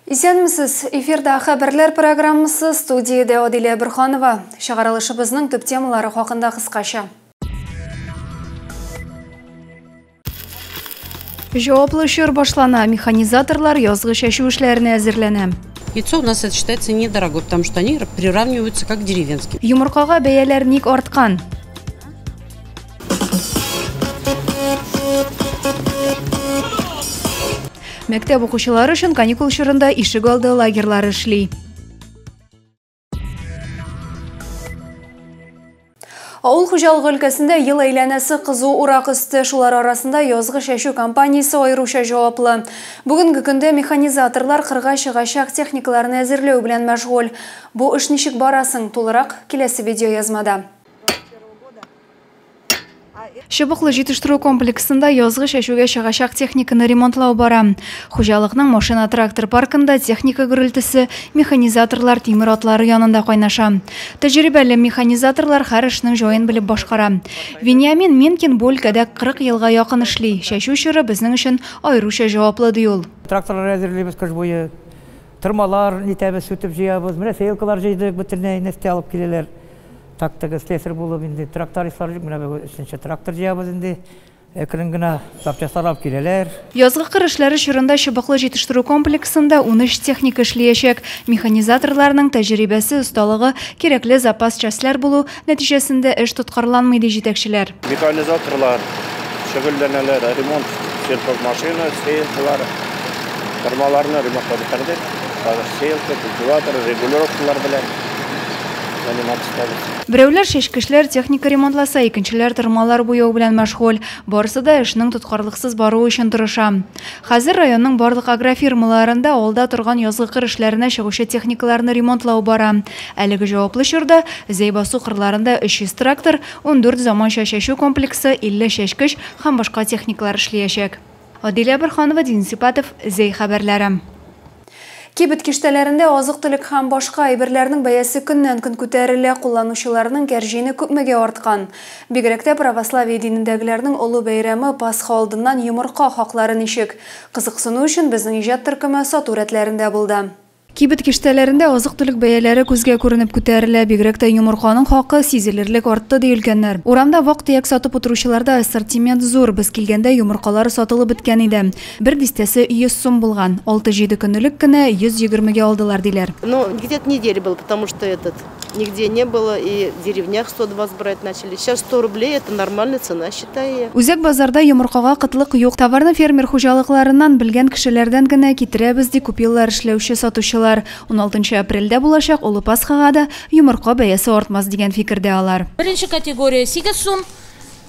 Исәнмесез! Эфирда хәбәрләр программасы студиядә Адилә Бөрханова. Чыгарылышыбызның төп темалары хакында кыскача. Җаваплы чор башлана. Механизаторлар язгы чәчү эшләренә әзерләнә. Яйцо у нас это считается недорогой, потому что они приравниваются как деревенские. Йомыркага бәяләр ник арткан? Мәктәп укучылары өчен каникул чорында ишек алды лагерьлары эшли. Авыл хуҗалыгы өлкәсендә ел әйләнәсе кызу урак өсте, шулар арасында язгы чәчү компаниясе аеруча җаваплы. Бүгенге көндә механизаторлар кырга чыгачак техникаларны әзерләү белән мәшгуль. Бу эш ничек барасын тулырак киләсе видеоязмада. Чыбыклы җитештерү комплексында язгы чәчүгә чыгачак техниканы ремонтлау бара. Хуҗалыкның машина-трактор паркында техника гөрелтесе механизаторлар тимер атлары янында кайнаша. Тәҗрибәле механизаторлар һәр эшнең җаен белеп башкара. Вениамин Минкин бу өлкәдә 40 елга якын эшли. Чәчү чоры безнең өчен аеруча җаваплы, ди ул. Тракторлар әзерлибез кыш буе. Тырмалар нитәбез, сүтеп җыябыз. Менә сеялкалар җыйдык, бөтенләй нефтьтә алып киләләр. Тактыгы слесарь булып инде трактористлар җыйдык, менә бүген өченче трактор җыябыз инде. Әкрен генә запчастьлар алып киләләр. Язгы кыр эшләре чорында чыбыклы җитештерү комплексында унөч техника эшлиячәк. Механизаторларның тәҗерибәсе, осталыгы, кирәкле запас частьләр булу нәтиҗәсендә эш тоткарланмый, ди җитәкчеләр. Механизаторлар шөгыльләнәләр, ремонт, сельхоз машина, сеялкалар, тырмаларны ремонтлап бетердек. Хәзер сеялка, культиватор, регулировкалар белән. Берәүләр чәчкечләр, техника ремонтласа, икенчеләр тырмалар буяу белән мәшгуль. Барысы да эшнең тоткарлыксыз баруы өчен тырыша. Хәзер районның барлык агрофирмаларында алда торган язгы кыр эшләренә чыгучы техникаларны ремонтлау бара. Әлеге җаваплы чорда Зәй басу кырларында 300 трактор, ундүрт заманча чәчү комплексы, 50 чәчкеч һәм башка техникалар эшлиячәк. Адилә Борһанова, Дин Сипатов, Зәй хәбәрләре. Кибет киштәләрендә азык-төлек һәм башка әйберләрнең бәясе көннән-көн күтәрелә, кулланучыларның кәрҗине күпмегә арткан. Бигрәк тә православие динендәгеләрнең олы бәйрәме Пасха алдыннан йомырка хаклары ничек? Кызыксыну өчен безнең иҗат төркеме сату рәтләрендә булды. Кибет киштәләрендә азык-төлек бәяләре күзгә күренеп күтәрелә. Бигрәк тә йомырканың хакы сизелерлек артты, ди өлкәннәр. Урамда вак-төяк сатып утыручыларда ассортимент зур. Без килгәндә йомыркалар сатылып беткән иде. Бер дистәсе 100 сум булган. Алты-җиде көн элек кенә 120 гә алдылар, диләр. Нигде не было и деревнях 120 брать начали сейчас 100 рублей это нормальная цена считай я. Үзәк базарда йомыркага кытлык юк. Товарны фермер хуҗалыкларыннан, белгән кешеләрдән генә китерәбез, ди күп еллар эшләүче сатучылар. Уналтынчы апрельдә булачак Олы Пасхага да йомырка бәясе артмас дигән фикердә алар. Беренче категория, сигез сум.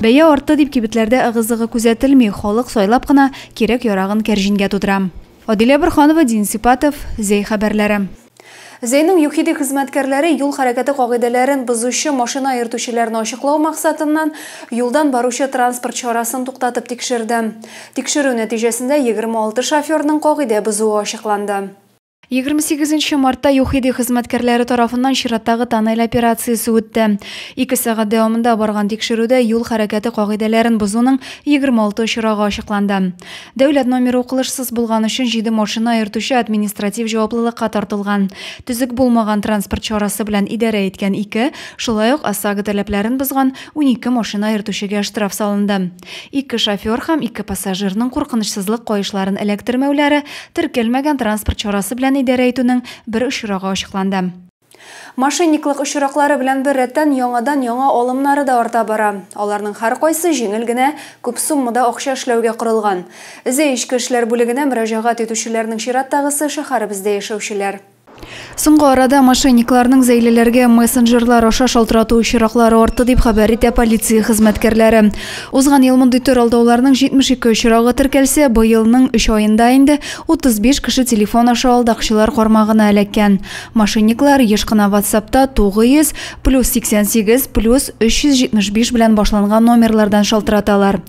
Бәя артты дип кибетләрдә ыгы-зыгы күзәтелми, халык сайлап кына кирәк-ярагын кәрҗингә тутыра. Адилә Борханова, Дин Сипатов, Зәй хәбәрләре. Зәйнең ЮХИДИ хезмәткәрләре юл хәрәкәте кагыйдәләрен бозучы машина йөртүчеләрне ачыклау максатыннан, юлдан баручы транспорт чарасын туктатып тикшерде. Тикшерү нәтиҗәсендә 26 шоферның кагыйдә бозуы ачыкланды. 28 мартта ЮХИДИ хезмәткәрләре тарафыннан чираттагы тоннель операциясе үтте. Ике сәгать дәвамында барган тикшерүдә юл хәрәкәте кагыйдәләрен бозуның 26 очрагы ачыкланды. Дәүләт номеры укылышсыз булган өчен 7 машина йөртүче административ җаваплылыкка тартылган. Төзек булмаган транспорт чарасы белән идарә иткән ике, шулай ук ОСАГО таләпләрен бозган 12 машина йөртүчегә штраф салынды. Ике шофер һәм ике пассажирның куркынычсызлык каешларын эләктермәүләре теркәлмәгән транспорт чарасы белән идарә итүнең бер очрагы ачыкланды. Мошенниклык очраклары белән беррәттән, яңадан-яңа алымнары да арта бара. Аларның һәркайсы җиңел генә, күп суммада акча эшләүгә корылган. Өзә Эчке эшләр бүлегенә мөрәҗәгать итүчеләрнең чираттагысы, шәһәребездә яшәүчеләр. Соңгы арада мошенникларның зәйлеләргә мессенджерлар аша шалтырату очраклары артты, дип хәбәр итә полиция хезмәткәрләре. Узган ел мондый төр алдауларның 72 очрагы теркәлсә, быелның өч аенда инде 35 кеше телефон аша алдакчылар кармагына эләккән. Мошенниклар еш кына ватсапта 900, +88, +375 белән башланган номерлардан шалтыраталар.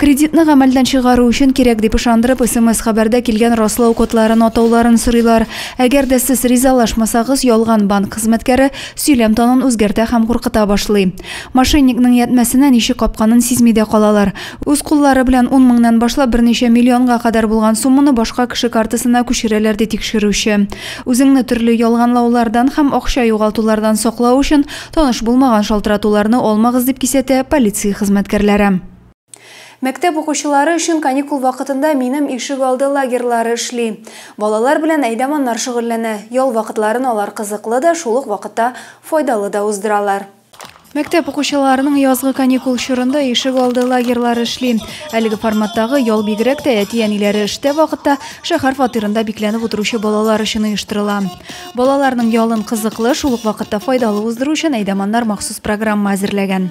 Кредитны гамәлдән чыгару өчен кирәк дип ышандырып, смс-хәбәрдә килгән раслау кодларын атауларын сорыйлар. Әгәр дә сез ризалашмасагыз, ялган банк хезмәткәре сөйләм тонын үзгәртә һәм куркыта башлый. Мошенникның ятьмәсенә ничек капканын сизми дә калалар. Үз куллары белән ун меңнән башлап берничә миллионга кадәр булган сумманы башка кеше картасына күчерәләр, ди тикшерүче. Үзеңне төрле ялганлаулардан һәм акча югалтулардан саклау өчен, таныш булмаган шалтыратуларны алмагыз, дип кисәтә полиция хезмәткәрләре. Мәктәп укучылары өчен каникул вакытында Минем ишегалды лагерьлары эшли. Балалар белән әйдә-маннар шөгыльләнә. Ял вакытларын алар кызыклы да, шул ук вакытта файдалы да уздыралар. Мәктәп укучыларының язгы каникул чорында ишегалды лагерьлары эшли. Әлеге форматтагы ял бигрәк тә әти-әниләре эштә вакытта шәһәр фатирында бикләнеп утыручы балалар өчен оештырыла. Балаларның ялын кызыклы, шул ук вакытта файдалы уздыру өчен әйдә-маннар махсус программа әзерләгән.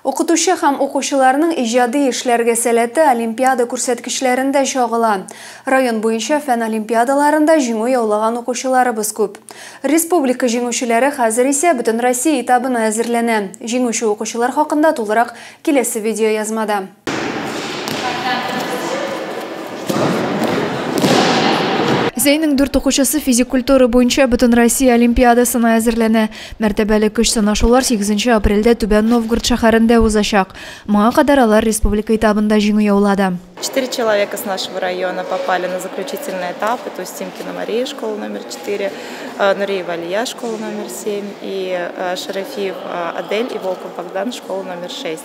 Укытучы һәм укучыларның иҗади эшләргә сәләте олимпиада күрсәткечләрендә чагыла. Район буенча фән олимпиадаларында җиңү яулаган укучыларыбыз күп. Республика җиңүчеләре хәзер исә Бөтенроссия этабына әзерләнә. Җиңүче укучылар хакында тулырак киләсе видеоязмада. Музейның дүрт укучысы физик культура буенча Бөтенроссия олимпиадасына әзерләнә. Мәртәбәле көч сынашулар 8 апрельдә Түбән Новгород шәһәрендә узачак. Моңа кадәр алар республика этабында җиңү яулады. Четыре человека с нашего района попали на заключительный этап. Это Устимкина Мария, школа номер 4, э, Нуриева Алия, школа номер 7 и э, Шарафиев э, Адель и Волков Богдан, школа номер 6.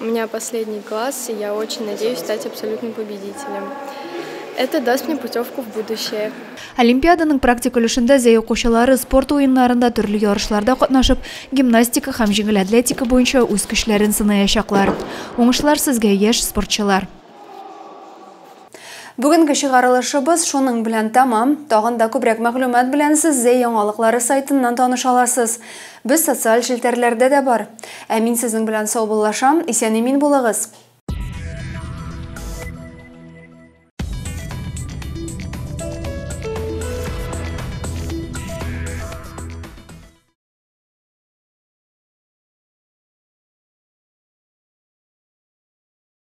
У меня последний класс, и я очень надеюсь стать абсолютным победителем. Это даст мне путевку в будущее. Олимпиаданың практик өлешендә зәй укучылары спорт уеннарында төрле ярышларда катнашып, гимнастика һәм җиңел атлетика буенча үз көчләрен сынаячаклар. Уңышлар сезгә, яшь спортчылар! Бүгенге чыгарылышыбыз шуның белән тәмам. Тагын да күбрәк мәгълүмат белән сез Зәй яңалыклары сайтыннан таныша аласыз. Без социаль челтәрләрдә дә бар. Ә мин сезнең белән саубуллашам. Исән-имин булыгыз!